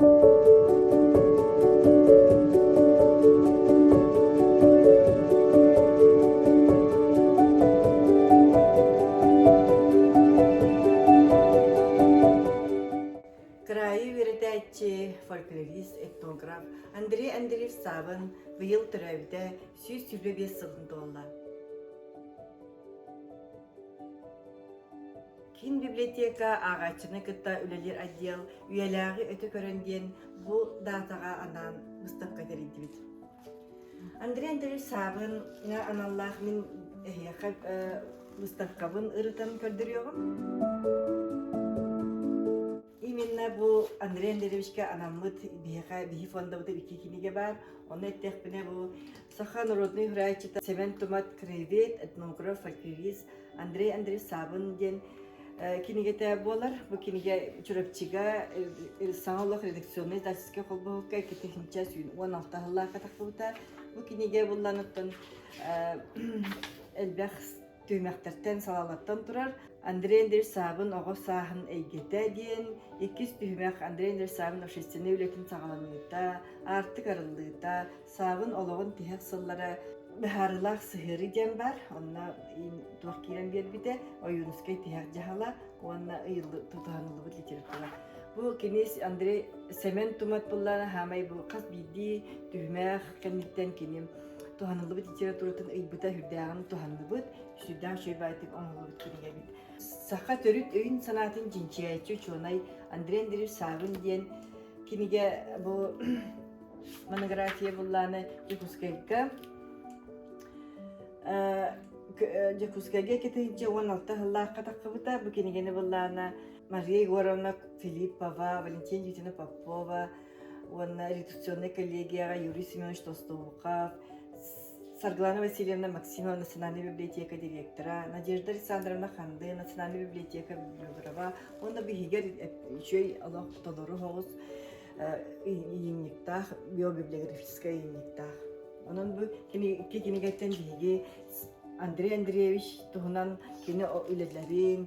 Кыраайы үөрэтээччи, фольклорист, этнограф Андрей Андреев Саабын быйыл төрөөбүтэ сүүс сүүрбэ биэс сылын туолла. Кин библиотека ааҕааччыны кытта үлэлиир отдел үйэлээҕи өтө көрөн диэн бу даатаҕа анаан быстахха тэрийдибит. Андрей Андреевич Саабын аналлаах мин эһиэхэ быстаххабын ырытан көрдөрүөҕүм. Именно бу Андрей Андреевичке анаммыт биһиэхэ биһи фондабыта икки кинигэ бар. Онно эттэхпинэ бу Саха народный храаччыта Семен Тумат краевед, этнограф, активист Андрей Андреевич Сабын диэн кинигэтэ буолар. Бу кинигэ Чурапчыга саҥа олох редакционнай издательскай холбоһукка икки технича сүүн уон алта хыллаахка тахпыта. Бу кинигэ булланыттан элбэх Түһүмэхтэртэн салалаттан турар Андрей Андреевич Саабын оҕо сааһын эйгэтэ диэн иккис түһүмэх Андрей Андреевич Саабын общественнай үлэтин саҕаланыыта, аартык арыллыыта, Саабын олоҕун тиһэх сыллара быһаарылаах сыһыарыы диэн баар, онно туох киирэн биэрбитэ Ойуунускай тиһэх дьаһала уонна ыйылы тутуһаныллыбыт литература. Бу кини Андрей Семен Тумат буллаана хаамай бу хас биирдии түһүмэх кэнниттэн киним туһаныллыбыт литературатын ыйбыта үрдээҕин туһанныбыт сүрдээх үчүгэйдик оҥоһуллубут кинигэбит саха төрүт өйүн санаатын чинчийээччи учуонай андрей андреевич саабын диэн кинигэ бу монография буллааны дьокуускайга Дьокуускайга кэтинчэ уон алта сыллаахха таххыбыта бу кинигэни буллаана Мария Егоровна Филиппова, Валентина Юдина Попова уонна редакционнай коллегияҕа Юрий Семенович Толстовуков, Саргылана Васильевна Максимова национальнай библиотека директора, Надежда Александровна Ханды национальнай библиотека библиографа уонна биһигэр үчүгэй олох толору соҕус ыйынньыктаах, биобиблиографическай ыйынньыктаах. Онон бу икки кинигэттэн биһиги Андрей Андреевич туһунан кини үлэлэрин,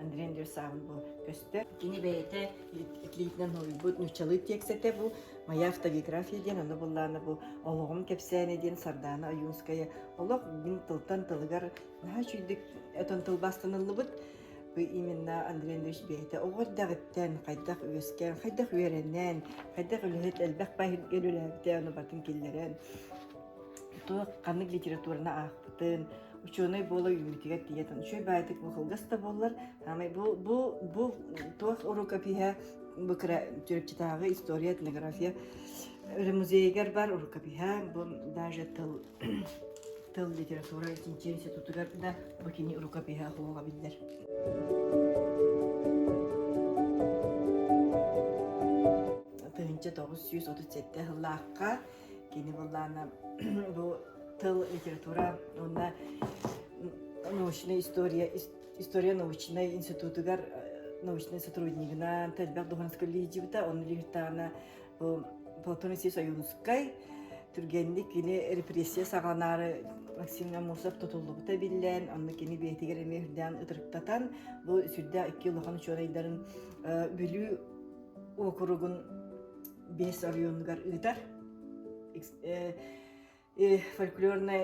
Андрей Андреевич сааһым бу көстөр. Кини бэйэтэ итлиитинэн уһуйбут нууччалыы тиэксэтэ бу «Моя автогеография» диэн, аны буллаана бу «Олоҕум кэпсээнэ» диэн Сардаана Аюнская олох мин тылтан тылыгар наһаа үчүйдүк этон тылбаастаныллыбыт бу именно Андрей Андреевич бэйэтэ оҕо эрдэҕиттэн хайдах үөскээн, хайдах үөрэнэн, хайдах үлэһит элбэх баһыйга үлэлээбитэ, ону батын киллэрэн туох ханнык литератураны аахпытын, учуонай буола үүрүтүгэр тиийэ тан үчүгэй баайытык бу кылгас да буоллар аамай бу бу бу туох урукопиһа бу кыра түрүкчүтааҕы история этнография музейыгар бар урукопиһа бу даже тыл тыл литература институтугар да бу кини урукопиһа хоһуга биллэр тыһынча тоҕус сүүс отут сэттэ сыллаахха Кини буллаана бу тыл, литература уонна научная история, история научнай институтугар научнай сотруднигынан тэлбэх духанаска лидибита, он лихтаана бу Платон России Союзскай түргэнник кини репрессия саҕаланаары Максим Амусов тутуллубута биллэн, онно кини бэйэтигэр эмиэ үрдээн ытырыктатан, бу сүрдэ икки улахан учуонайдарын Бүлүү округун биэс оройуонугар ыытар фольклорнай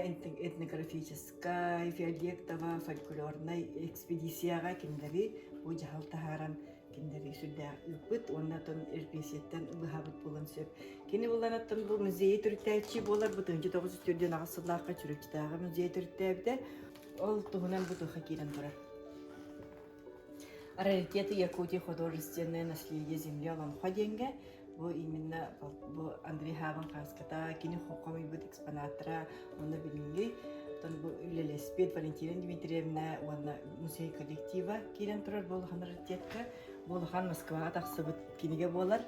этнографическай фиолетово фольклорнай экспедицияҕа кинилэри бу дьаһал таһааран кинилэри сүрдээх ыыппыт уонна тон эрпиэситтэн быһабыт булан сөп кини буланаттан бу музей төрүттээччи буолар бу тыынчы тоҕус үс төрдүөн аҕыс сыллаахха чүрүкчүтээҕи музей төрүттээбитэ ол туһунан бутуха киирэн турар Раритеты Якутии художественное наследие земли Олонхо диэнгэ бу именно бу Андрей Хабан хаската кини хомойбут экспонаттара онно билинги тон бу үлелеспит Валентина Дмитриевна уонна музей коллектива киирэн турар болухан раритетка болухан Москваға тахсыбыт киниге болар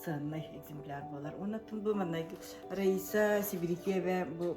сыаннай экземпляр болар. Оннан бу маннай Раиса Сибирикева бу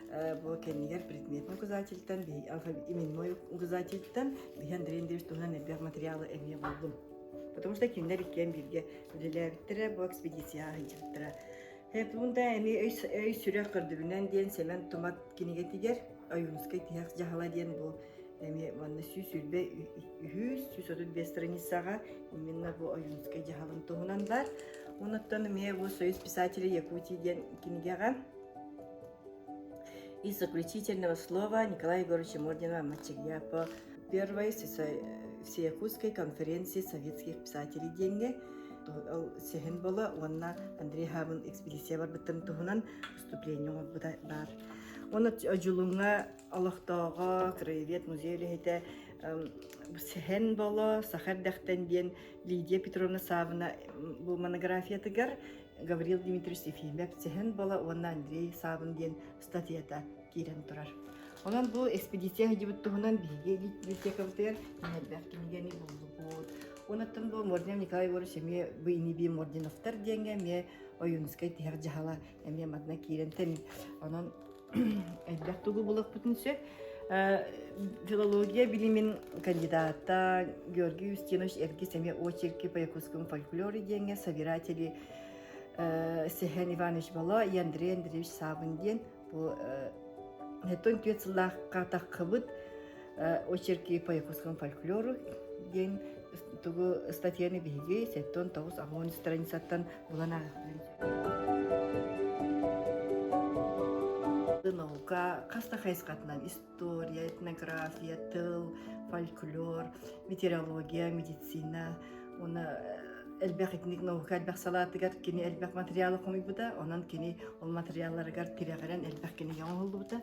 Бу кэннигэр предметнай указательтан, именной указательтан Биһи Андрей Андреевич туһунан элбэх материалы эмиэ булбун. Потому что кинилэр иккиэн бииргэ үлэлээбиттэрэ бу экспедицияҕа сылдьыбыттара. Хепунда эми өй сүрэх көрдүбүнэн диэн Семен Тумат кинигэтигэр Ойуунускай тиһэх дьаһала диэн бу эми манна сүүс үрбэ үһүүс сүүс отут бес страницаҕа именно бу Ойуунскай дьаһалын туһунан бар. Онуттан эмиэ бу Союз писателей Якутии диэн кинигэҕэ И заключительного слова Николая Егоровича Мордина Мачерьяпо первой с Якутской конференции советских писателей диэҥҥэ ол сеһин бола уонна Андрей Хабын экспедиция барбытын туһунан выступление оҥорбута баар. Оны Жулуҥа олохтооҕо, краевед музей үлэһитэ Сehen Bolo, Сахар Дәхтен диэн Лидия Петровна Савна бу монографиятыгар Гаврил Дмитриевич Ефимов Сэһэн Бала уонна Андрей Савин диэн статьята киирэн турар. Онон бу экспедиция сылдьыбыт туһунан биһиги библиотекабытыгар элбэх кинигэни буллубут. Онуттан бу Мордин Николай Егорович эмиэ бу иниби Мординовтар диэҥҥэ эмиэ Ойуунускай тиһэх дьаһала эмиэ манна киирэн тэн. Онон Элбэх тугу булахпытын сөп. Э, филология билимин кандидата Георгий Устинович Эргис эмиэ очерки по якутскому фольклору диэҥҥэ собиратели э, Сэһэн Иванович Боло и Андрей Андреевич Савин диэн бу э, Хеттон түөт сыллаахха таххыбыт очерки по японскому фольклору диэн тугу статьяны биһиги сэттон тоҕус амон страницаттан булан наука хаста хайысхатынан история этнография тыл фольклор метеорология медицина уна элбэх итник наука элбэх салаатыгар кини элбэх материалы хомуйбута онон кини ол материалларыгар тирэҕирэн элбэх кини оҥоһуллубута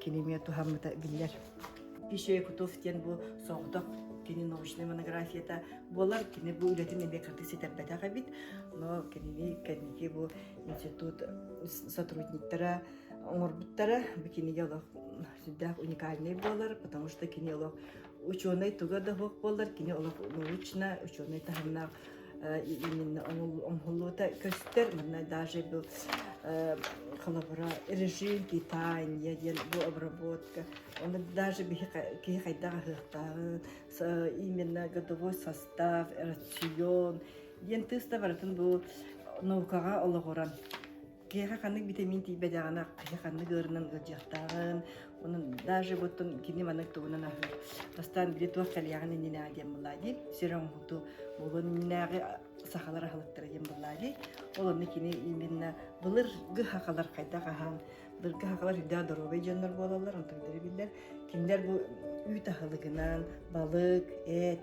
кинемия туһаммыта биллэр. Еще Якутов диэн бу соҕотох кини научнай монографията буолар кини бу үлэтин эмиэ кырдык ситэрбэтэх эбит но кинини кэнники бу институт сотрудниктара оҥорбуттара бу кинигэ олох сүрдээх уникальнай буолар потому что кини олох учуонай туга да суох буоллар кини олох научно учуонай таһымнаах именно оҥоһуллубута көстөр манна даже был режим питания диэн бу обработка оны даже киһи хайдах аһыахтааҕын именно годовой состав рацион диэн тыыс да барытын бу наукаҕа олоҕуран Киэһэ ханнык битэмиин тиийбэтэҕинэ киһи ханнык ыарынан ыалдьыахтааҕын, онон даже буттун кини маннык тугунан аһыыр. Бастаан били туох кэлиэҕин иннинээҕи диэн былаа дии, сир оҥоһуту булун иннинээҕи сахалар аһылыктара диэн былаа дии. Ол онно кини именно былыргы хахалар хайдах аһан, былыргы хахалар үрдээх доруобай дьоннор буолаллар, онтон билэр. Кинилэр бу үүт аһылыгынан балык, эт,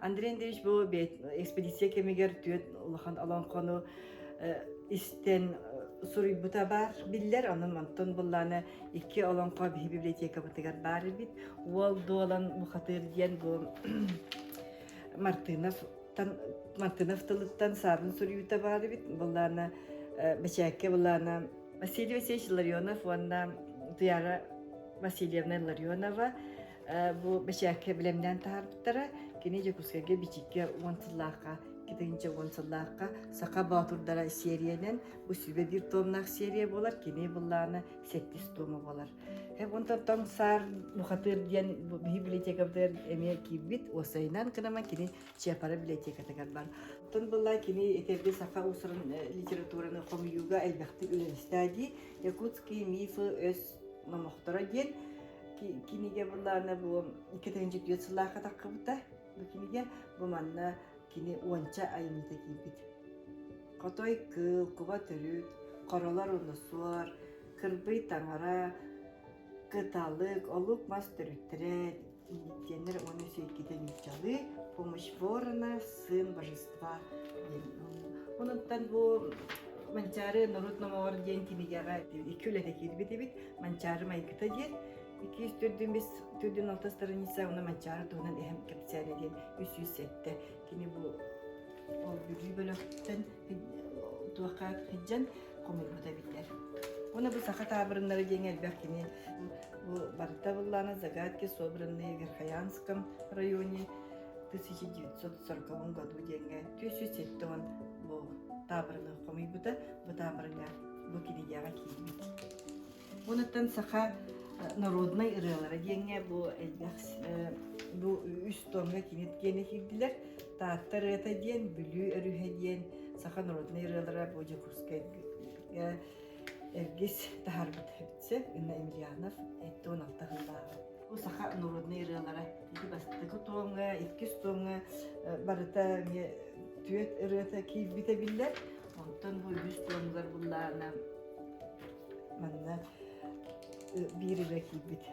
Андрей Андреевич бу экспедиция кэмигэр түөрт улахан олоҥхону истэн суруйбута баар биллэр онон онтон буллааны икки олоҥхо библиотекабытыгар баар эбит уол дуолан бухатыыр диэн бу мартыновтан мартынов тылыттан саарын суруйуута баар эбит буллаана бэчээккэ буллаана Василий Васильевич Ларионов уонна Туяра Васильевна Ларионова Бу бэчээккэ билэмнээн таһаарбыттара. Кини Дьокуускайга Бичикке уон сыллаахха, китинчэ уон сыллаахха Саха Боотурдара сериянан бу сүбэ биир томнаах серия буолар. Кини быллаана сэттис тома буолар. Һэп онтон тоҥ саар бухатыыр диэн бу биһи библиотекабытыгар эмиэ киирбит. Уосайынан кынама кини Чапара библиотекатыгар бар. Оттон былла кини этерди саха усурун литератураны хомуйууга элбэхтик үлэлистаа дии. Якутские мифы өс номохторо диэн киниге былаана бу иккитинчи түөрт сыллаахха таххыбыта бу киниге бу манна кини уонча айымньыта киирбит хотой кыл куба төрүт хоролор унусуор кырбый таҥара кыталык олук мас төрүттэрэ индиктиэннэр уонна сиэркитин дьалыы помощь ворона сын божества диэн онуттан бу манчаары норуот номоҕор диэн кинигэҕэ икки үлэтэ киирбит эбит манчаары майгыта диэн иккис төрдүн бис төрдүн алта страница уна манчаары туһунан эһэм кэпсээнэ диэн үс сүүс сэттэ кини бу ол бүлүү бөлөхтөн туохха хиддьэн хомуйбута биллэр. Оны бу саха таабырыннары диэн элбэх кини бу барыта быллана загадки собранные в Верхоянском районе 1940 году диэнгэ 307 бу таабырыны хомуйбута бу таабырыга бу кинигеҕэ киирбит. Уонуттан саха народнай ырыалара диэҥҥэ бу элбэх бу үс томҥа кинит киэнэ киирдилэр. Таатта ырыата диэн, Бүлүү өрүһэ диэн саха народнай ырыалара бу Дьокуускайга эргис таһарбыт эбитсэ Инна Емельянов эттэ он алтаһыннааҕа. Бу саха народнай ырыалара ити бастакы томҥа, иккис томҥа барыта эмиэ түөт ырыата киирбитэ биллэр. Онтон бу үһүс томгар буллаана манна биир үлэ киирбит.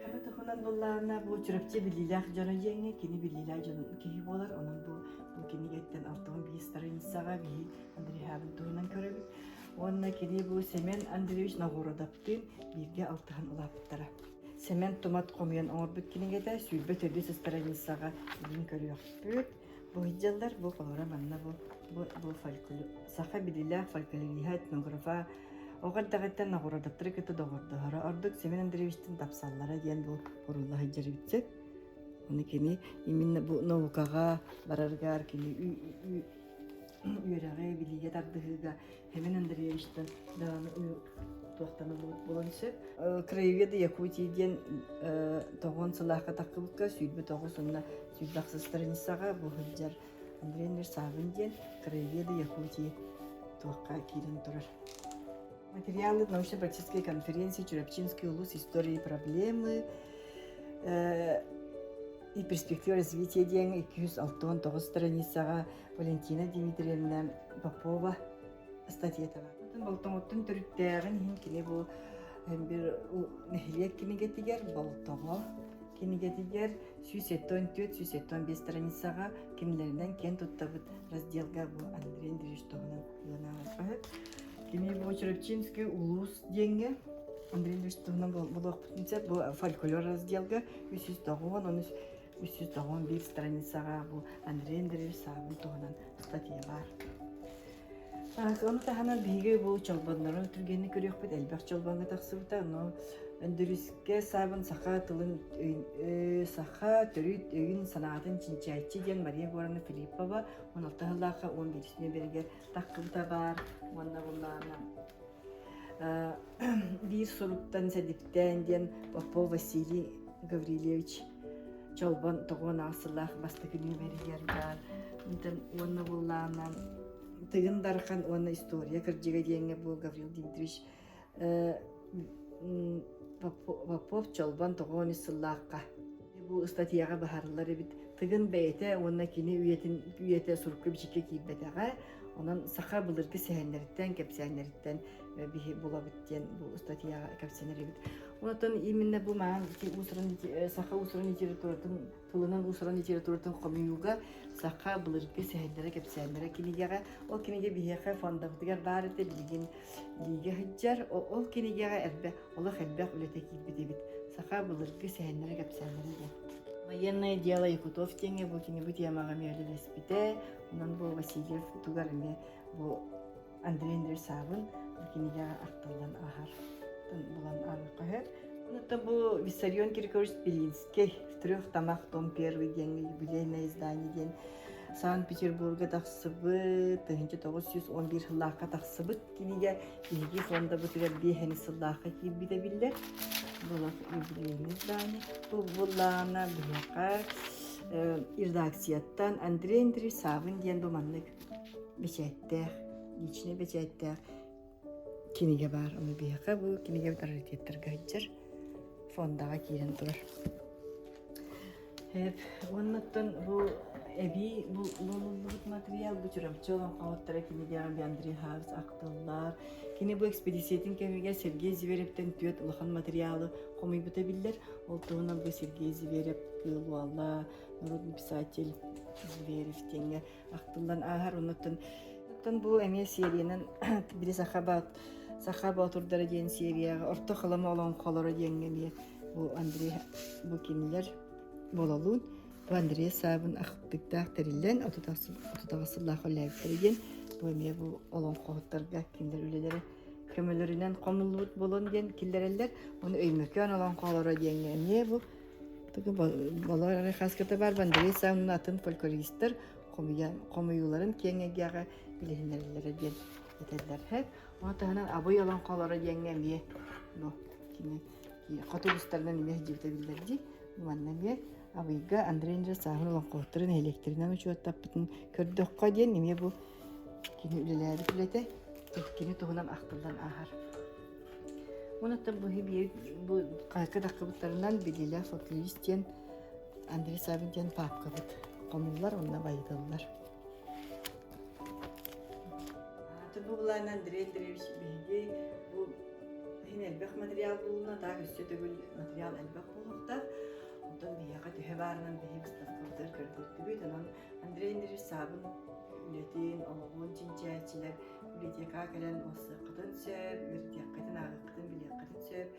Хаба тохунан буллаана бу Чурапчы билиилээх дьоро жиэҥҥэ кини билиилээх дьон киһи буолар. Онон бу бу кинигеттен алтыгын биир старынсаҕа биһи Андреябын туһунан көрөбүт. Уонна кини бу Семен Андреевич Нагородоптын бииргэ алтыһан улаапыттара. Семен Тумат хомуйан оҥорбут кинигэтэ сүүрбэ төрдүс старанисаҕа бүгүн көрүөхпүт. Бу сыллар бу холоро манна бу бу бу фольклор саха билилээх фольклориһа этнографа оҕо эрдэҕиттэн оҕуруоттары кытта доҕордоһоро ордук Семен Андреевичтин тапсаллара диэн бу бурула сылдьарбытыт. Оны кини именно бу наукаҕа бараргар кини үөрэҕи, билиигэ тардыһыыга Фемен Андреевичтан даҕаны туохтана буолан сөп. Краевед Якутии диэн тоҕон сылаахка таххыбыкка сүүрбүт оҕус онна сүүрбэх сыстраницаҕа бу сылдьар Андрей Нерсавин диэн Краеведы Якутии туохха киирэн турар. Материалы научно-практической конференции Чурапчинский улус истории проблемы и перспектива развития диэн 206 страницаҕа Валентина Дмитриевна Попова статьетова. Болтоҥуттан төрүттээҕин иһин кини бу бир нэһилиэк кинигэтигэр Болтоҕо кинигэтигэр сүүс он төрт сүүс он бес страницаға кимлеринен кен туттабыт разделга бу Андрей Андреевич тоғынан кыйланаабыт Кини бу Чурапчинский улус диенге Андрей Андреевич туһунан болуохпутун сеп бу фольклор разделга 309 үс жүз тоҕон биир страницаҕа бу Андрей Андреевич саабын туһунан статьялар. Ону таһынан биһиги бу чолбоннору түргэнник көрүөхпүт элбэх чолбоҥҥа тахсыбыта, но Өндүрүскэ саабын саха тылын саха төрүт өйүн санаатын чинчээччи диэн Мария Горана Филиппова 16 жыллаахха 15 бэригэр тахпыта баар уонна булаана биир суруктан сэдиптээн диэн Попов Василий Гаврильевич Чолбон тоҕуон аасылаах бастакы нүөмэригэр баар уонна буллаанан Тыгын Дархан уонна история кырдьыга диэҥҥэ буол Гаврил Дмитриевич Попов Чолбон тоҕуон ис сыллаахха бу ыстатыйаҕа быһаарыллар эбит тыгын бэйэтэ уонна кини үйэтин үйэтэ сурукка бичиккэ киирбэтэҕэ онон саха былыргы сэһэннэриттэн кэпсээннэриттэн биһи булабыт диэн бу ыстатыйаҕа кэпсэнэр эбит онон именно бу маан уусурун саха уусурун литературатын тылынан уусаран литературатын хомуйууга саха былыргы сэһэннэрэ кэпсээннэрэ кинигэҕэ ол кинигэ биһиэхэ фондабытыгар баар этэ билигин лиигэ сылдьар ол кинигэҕэ элбэх олох элбэх үлэтэ киирбит эбит саха былыргы сэһэннэрэ кэпсээннэрэ диэн военное дело якутов диэҥҥэ бу кини бу тиэмэҕэ мүөлүлэспитэ онон бу васильев тугар эмиэ бу Андрей Андреевсаабын кинигэҕэ ахтыллан ааһар булан ааһыахха Это был Виссарион Киркорович Белинский «Трех том первый» диэн юбилейное издание диэн Санкт-Петербурга тахсыбыт, 1911 сыллаахха тахсыбыт кинигэ, биһиги фондабытыгар биэһэни сыллаахха киирбитэ биллэр. Было юбилейное издание. Бұл буллаана биһиэхэ редакцияттан Андрей Андреевсаабын диэн бу маннык бэчээттээх, личнэй бэчээттээх кинигэ баар. Ону биһиэхэ бу кинигэ раритеттарга сылдьар фондаҕа киирэн турар. Уоннаттан бу эбии булуллубут материал бу Чурапчы олоҥхоһуттара кинигэҕэ би Андрей Хавис ахтыллар. Кини бу экспедициятын кэмигэр Сергей Зиверевтен түөрт улахан материалы хомуйбута биллэр. Ол туһунан бу Сергей Зиверев кыылуалла, народный писатель Зиверев диэҥҥэ ахтыллан ааһар оннуттан бу эмиэ сериянан били саха боот саха боотурдара диэн серияҕа орто халама олоҥхолоро диэҥҥэ эмиэ бу андрей букинлер бололуун бу андрей саабын ахтыктаах тэриллэн отутаҕас сыллаах үлэһиттэрэ диэн бу эмиэ бу олоҥхоһуттарга кинилэр үлэлэрэ көмөлөрүнэн хомуллубут буолан диэн киллэрэллэр оны өймөкөөн олоҥхолоро диэҥҥэ эмиэ бу Болор хаската бар Вандреса унна атын фольклористтар хомуйууларын киэҥэгиэҕэ билиһиннэрэллэрэ диэн этэллэр хэт. Ол таһынан абый олоҥхолоро диэҥҥэ эмиэ хоту устарынан эмиэ сдьибитэ биллэр дии. Манна эмиэ Абыйга Андрей Андреев сааһын олоҥхоһуттарын нэһилиэктэринэн учуоттаппытын көрдөххө диэн эмиэ бу Кини үлэлээбит үлэтэ кини туһунан ахтыллан ааһар. Онуттан бу бу хайгы дакыбыттарынан билилэх футурист диэн Андрей Савин диэн папкабыт хомуллар онна байытыллар. Атын бу былаан Андрей Андреевич биһиги бу иһин элбэх материал булуна, так үссе төгүл материал элбэх булуктар. Оттон биһиэхэ төһө баарынан биһиги быстаспытыгар көрдөрдүбүт, онон Андрей Андреевич саабын үлэтин, оҕоҕун чинчээччилэр библиотекаҕа кэлэн ылсыаххытын сөп, үөрэтиэххитин, ааҕыаххытын, билиэххитин сөп.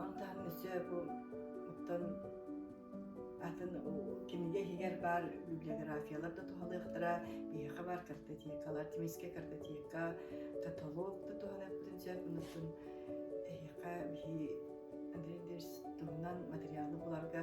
Ону таһынан өссө бу оттон атын кинигэ иһигэр баар библиографиялар да туһалыахтара, биһиэхэ баар картотекалар, тимискэ картотека, каталог да туһаныахпытын сөп, онтон эһиэхэ биһи Андрей Андреевич туһунан материалы буларга